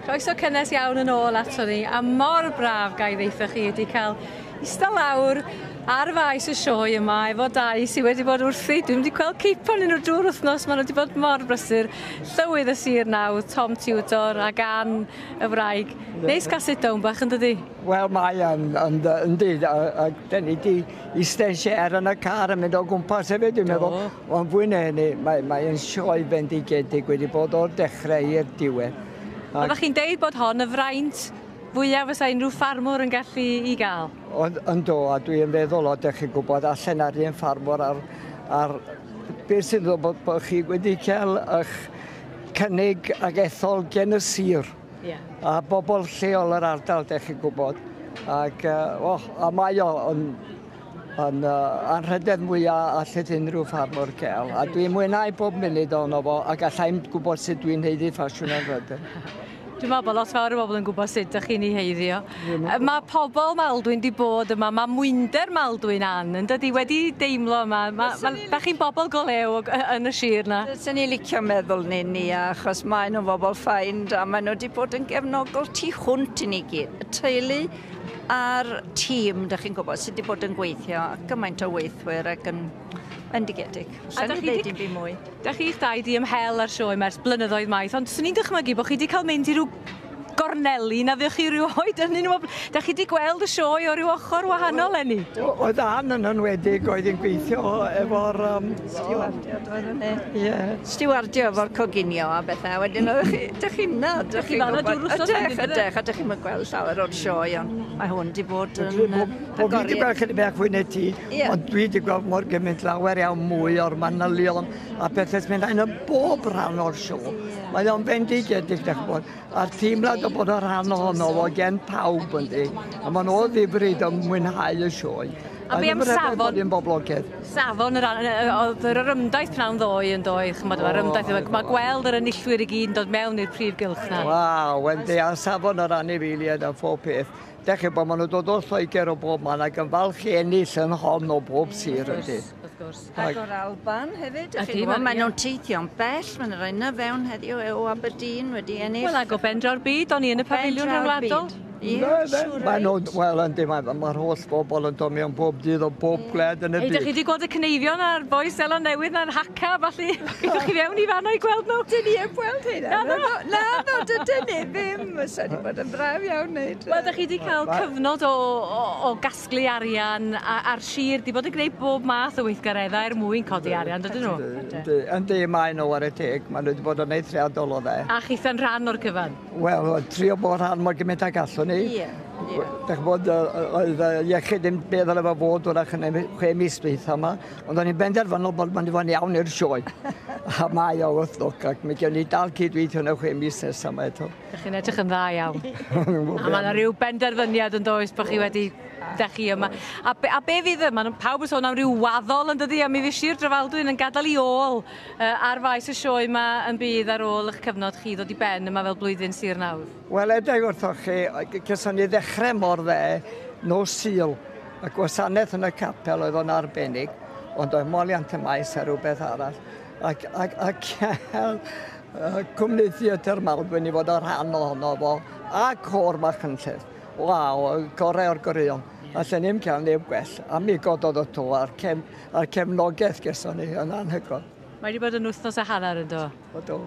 Croeso cynnes iawn yn ôl ato ni, a mor braf gael ddeitha chi wedi cael ista lawr ar faes y sioe yma efo dau sydd wedi bod wrthi. Dwi'n wedi gweld ceipo yn nhw drwy'r wythnos, maen nhw wedi bod mor brysur. Llywydd y sir nawr, Tom Tudor, a gan y wraig. Neis cael sit down bach yn dydi? Wel, mae yn, yn, yn dyd, a, a da ni wedi Eistedd lle er yn y car yn mynd o gwmpas hefyd, dwi'n meddwl. Ond fwy na hynny, mae'n mae sioe bendigedig wedi bod o'r dechrau i'r diwedd. Ac... Oeddech chi'n deud bod hon y fraint fwyaf fysa unrhyw ffarmwr yn gallu i gael? Ond, ynddo, a dwi'n feddwl, o, dych chi'n gwybod, allan ar un ffarmwr ar, ar beth sy'n ddod bod, bod chi wedi cael eich cynnig ag ethol gen y sir. Yeah. A bobl lleol yr ardal, dech chi'n gwybod. Ac, uh, oh, a mae o yn, yn uh, anrhydedd mwyaf allet unrhyw ffarmwr cael. A dwi'n mwynhau bob munud o'n fo, a gallai'n gwybod sut dwi'n heiddi ffasiwn ar rydyn. Dwi'n meddwl bod lot fawr o bobl yn gwybod sut ydych chi'n ei heiddio. Mae pobl Maldwyn di bod yma, mae mwynder Maldwyn an, yn dydi, wedi deimlo yma. Mae, ma, da chi'n bobl go lew yn y sir na. Dyna ni licio meddwl ni ni, achos maen nhw'n bobl ffain, a maen nhw wedi bod yn gefnogol tu hwnt i ni gyd. Y teulu a'r tîm, da chi'n gwybod, sydd wedi bod yn gweithio, gymaint o weithwyr ac yn Endigedig. Sa'n ni'n dweud dim byd mwy. Da chi'ch dau di ymhel ar sioe mers blynyddoedd maith, ond swn i'n dychmygu bod chi wedi cael mynd i rhyw gorneli na fuoch chi rhyw oed yn un o bobl... Da chi wedi gweld y sioe o ryw ochr wahanol enni? Oedd Ann yn enwedig oedd yn gweithio efo'r... Um, Stiwardiad oedd yn ei. Ie. Stiwardio efo'r coginio a bethau. Wedyn oedd chi, dych chi'n na, dych chi'n gwybod. Ydych, ydych, a dych chi'n gweld llawer o'r sioe, ond mae hwn wedi bod yn agoriad. Bo fi wedi gweld chyda bach fwy na ti, ond dwi wedi gweld mor gymaint lawer iawn mwy o'r manylion a bethau sy'n mynd yn bob rhan o'r sioe. Mae o'n fendigedig, dach bod, a teimlad o bod o rhan ohono fo gen pawb yn di. A ma'n o ddifryd yn mwynhau y sioe. A be am safon? Yn boblogedd. Safon yr oedd yr ymdaith pnawn ddoe yn doedd, chymod, mae'r ymdaith, mae gweld yr enillwyr i gyd yn dod mewn i'r prif gylch na. Waw, yn di, a safon yr anifeiliaid a phob peth. Da chi bod, maen nhw dod o Lloegr o bob man ac yn falch i ennill yn hon o bob sir ydy. Wrth gwrs. Agor Alban hefyd, dych chi'n gwybod, maen nhw'n teithio'n bell, maen nhw'n rhoi na fewn heddiw e o Aberdeen wedi ennill. Wel, ag o bendraw'r byd, o'n i yn y pafiliwn rhyngwladol. Maen nhw'n, wel, yndi, mae'r holl bobl yn dod mewn bob dydd o bob gwled yn y byd. Ydych chi wedi gweld y cyneifion a'r boes Seland Newydd na'r haca, falle, ydych chi fewn i fanna i gweld nhw? Dyn ni heb gweld hyn. Na, na, na, na, dydyn ni ddim. Fysa wedi bod yn braf iawn wneud. Wel, ydych chi wedi cael cyfnod o casglu arian a, a'r sir 'di bod yn gneud bob math o weithgareddau er mwyn codi arian, dydyn nhw? Yndi, yndi, maen nhw ware teg, maen nhw 'di bod yn eithriadol o dde. A chitha'n rhan o'r cyfan? Wel, trio bod rhan mor gymaint ag allwn ni. Ie, ie. Dach ch'bod, yy, oedd y iechyd ddim be' ddyle fo fod 'w'rach yn y chwe mis dwytha 'ma, ond o'n i'n benderfynol bod mynd i fod yn iawn i'r sioe, a mae o wrth lwc, ac mi gewn ni dal cyd-weithio yn y chwe mis nesa 'ma eto. Dych chi'n edrych yn dda iawn. a mae yna rhyw benderfyniad yn does bod chi wedi... Da chi yma. A be, a be fydd y... Mae pawb yn sôn am ryw waddol yn dydy, a mi fydd Sir Drefaldwyn yn gadael i ôl uh, ar faes y sioe yma yn bydd ar ôl eich cyfnod chi ddod i ben yma fel blwyddyn Sir nawr. Wel, edrych wrthoch chi, gyson ni ddechrau mor dde, nos syl, y gwasanaeth yn y capel oedd o'n arbennig, ond oedd moliant y maes a rhywbeth arall. ac, ac, ac cael cwmni theatr Maldwyn i fod o rhan ohono fo, a cor Machynlleth. Waw, gorau o'r goreuon. A lle ni'n cael neb gwell, a mi gododd y to a'r, cef, a'r cefnogaeth geson ni yn anhygoel. Mae wedi bod yn wythnos a hanner yn do? O do.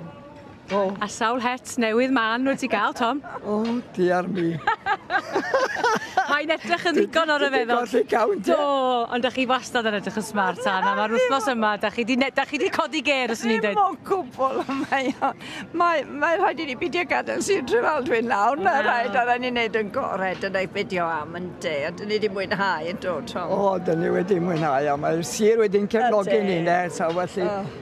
O. A sawl het newydd man nhw ti gael, Tom? O, oh, diar mi. Mae'n edrych yn ddigon o'r efeddol. Ti'n colli cawn, Do, ond da chi wastad yn edrych yn smart, Anna. Mae'r wythnos yma, da chi wedi codi ger, os ni'n dweud. Dim o cwbl, mae o'n... Mae, mae rhaid i ni beidio gadael Sir Trefaldwyn nawr, na rhaid, a rhaid ni wneud yn gorau, dyna i beidio am yn de, a dyn ni wedi mwynhau yn dod, Tom. O, dyn ni wedi mwynhau, a mae'r sir wedi'n cefnogi ni, ne, so felly... Oh.